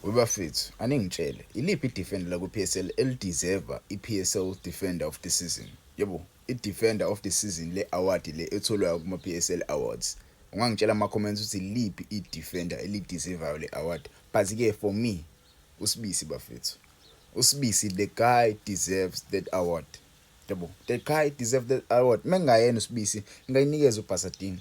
Webafethu aningitshele iliphi idefender lakwi PSL elideserve iPSL defender of the season? Yebo idefender of the season le award le etholwayo kuma PSL awards. Ungangitshela ama comments ukuthi iliphi idefender elideservayo le award. But ke for me uSibisi bafethu. USibisi the guy deserves that award. Yebo the guy deserves that award. Mengayena uSibisi ngayinikeza uBhasadini.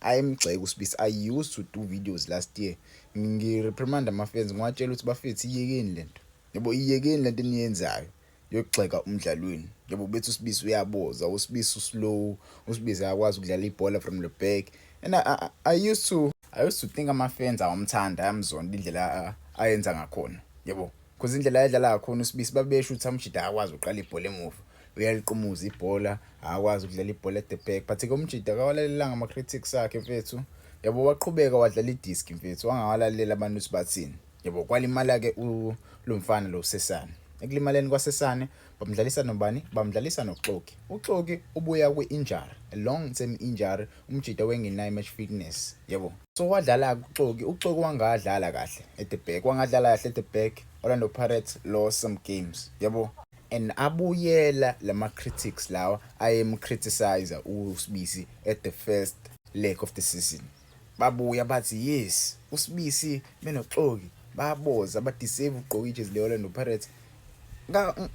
Ayi mgxeke usibisi I used to do videos last year ngireprimanda amafenzi ngiwatshela ukuthi bafethu iyekeni lento yebo iyekeni lento eniyenzayo yokugxeka umdlalo wenu yebo bethi usibisi uyaboza usibisi uslow usibisi akwazi ukudlala ibhola from the back and I, I, I used to I used to think ama-fans awamthanda ayamzonda indlela ayenza ngakhona yebo because indlela ayedlala ngakhona usibisi babesho ukuthi amjida akwazi uqala ibhola emuva uyaliqumuza ibhola akwazi ukudlala ibhola at the back but-ke umjida akawalalelanga ama-critics akhe mfethu yabo waqhubeka wadlala idiski mfethu wangawalalela abantu ukuthi bathini yabo kwalimala-ke lo mfana lo usesane ekulimaleni kwasesane bamdlalisa nobani bamdlalisa noxoki uxoki ubuya kwi-injury a long term injury umjida wengenayo match fitness yebo so wadlala-ke uxoki uxoki wangadlala kahle at the back wangadlala kahle at the back orlando pirates lost some games yebo and abuyela lama critics lawa ayem criticize uSibisi at the first leg of the season babuya bathi yes uSibisi benoxoki baboza ba deserve ugqoka ijezi le Orlando Pirates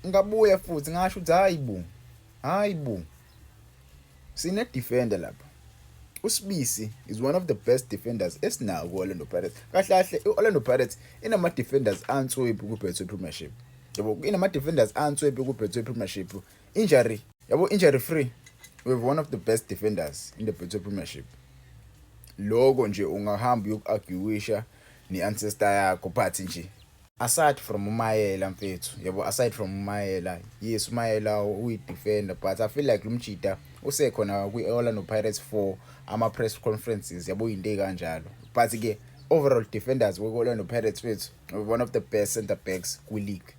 ngabuya futhi ngasho ukuthi hayi bo hayi bo Sine defender lapha. USibisi is one of the best defenders esinawo ku-Orlando Pirates. Kahle kahle i-Orlando Pirates inama defenders answebu ku-Betway Premiership. Yabo inama defenders answebu ku-Betway Premiership. Injury, yabo injury free. We have one of the best defenders in the Betway Premiership. Loko nje ungahamba uyoku-arguisha ne-ancestor yakho but nje Aside from uMayela mfethu yabo aside from uMayela yes uMayela uyi defender but I feel like lumjita usekhona kwi Orlando Pirates for ama press conferences yabo into ekanjalo but ke overall defenders we Orlando Pirates wethu one of the best center backs kwi league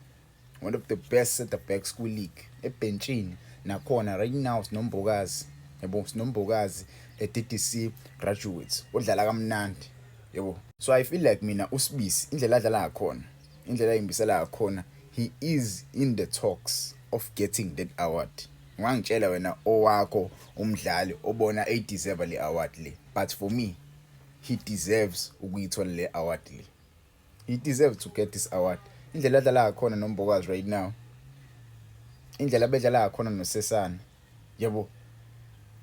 one of the best center backs kwi-league ebhentshini nakhona right now sinombokazi yabo sinombokazi e-DDC graduates odlala kamnandi yabo so i feel like mina usibisi indlela adlala ngakhona indlela ayimbisela ngakhona he is in the talks of getting that award ungangitshela wena owakho umdlali obona eyideserve le award le but for me he deserves ukuyithola le award le He deserve to get this award. Indlela adlala ngakhona noMbokazi right now. Indlela bedlala ngakhona noSesana. Yebo.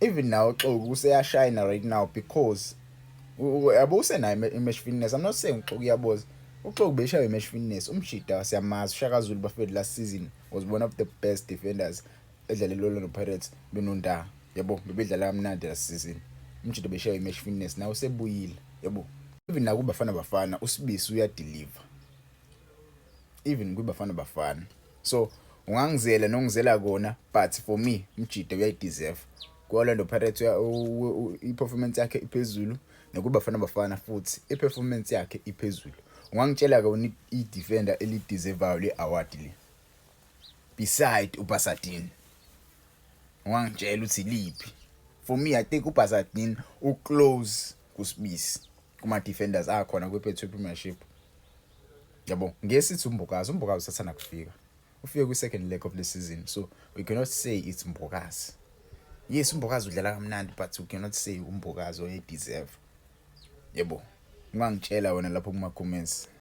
Even now Xoku useyashine right now because yabo usenayo iMesh Fitness. I'm not saying Xoku uyaboza. uxoki beshaya i-match fitness umshida siyamazi ushaka zulu bafethu last season was one of the best defenders edlale lolo noPirates lononda yabo bebedlala kamnandi last season umjito beshaye imatch fitness nawe sebuyile yabo even naku bafana bafana usibisi uyadeliver even kwi bafana bafana so ungangizela nongizela kona but for me umjito uyayideserve ku-orlando pirates i-performance yakhe iphezulu nokuba fana bafana futhi i-performance yakhe iphezulu ungangitshela-ke wena i-defender elideservayo le-award le beside uBasadin wangitshela ukuthi liphi for me i think uBasadin u close kusibisi kuma defenders akhona kwi Betway Premiership yabo ngesithi umbukazi umbukazi usathana kufika ufike kwi second leg of the season so we cannot say it's mbukazi yes umbokazi udlala kamnandi but you cannot say umbokazi oye deserve yebo ungangitshela wena lapho kuma comments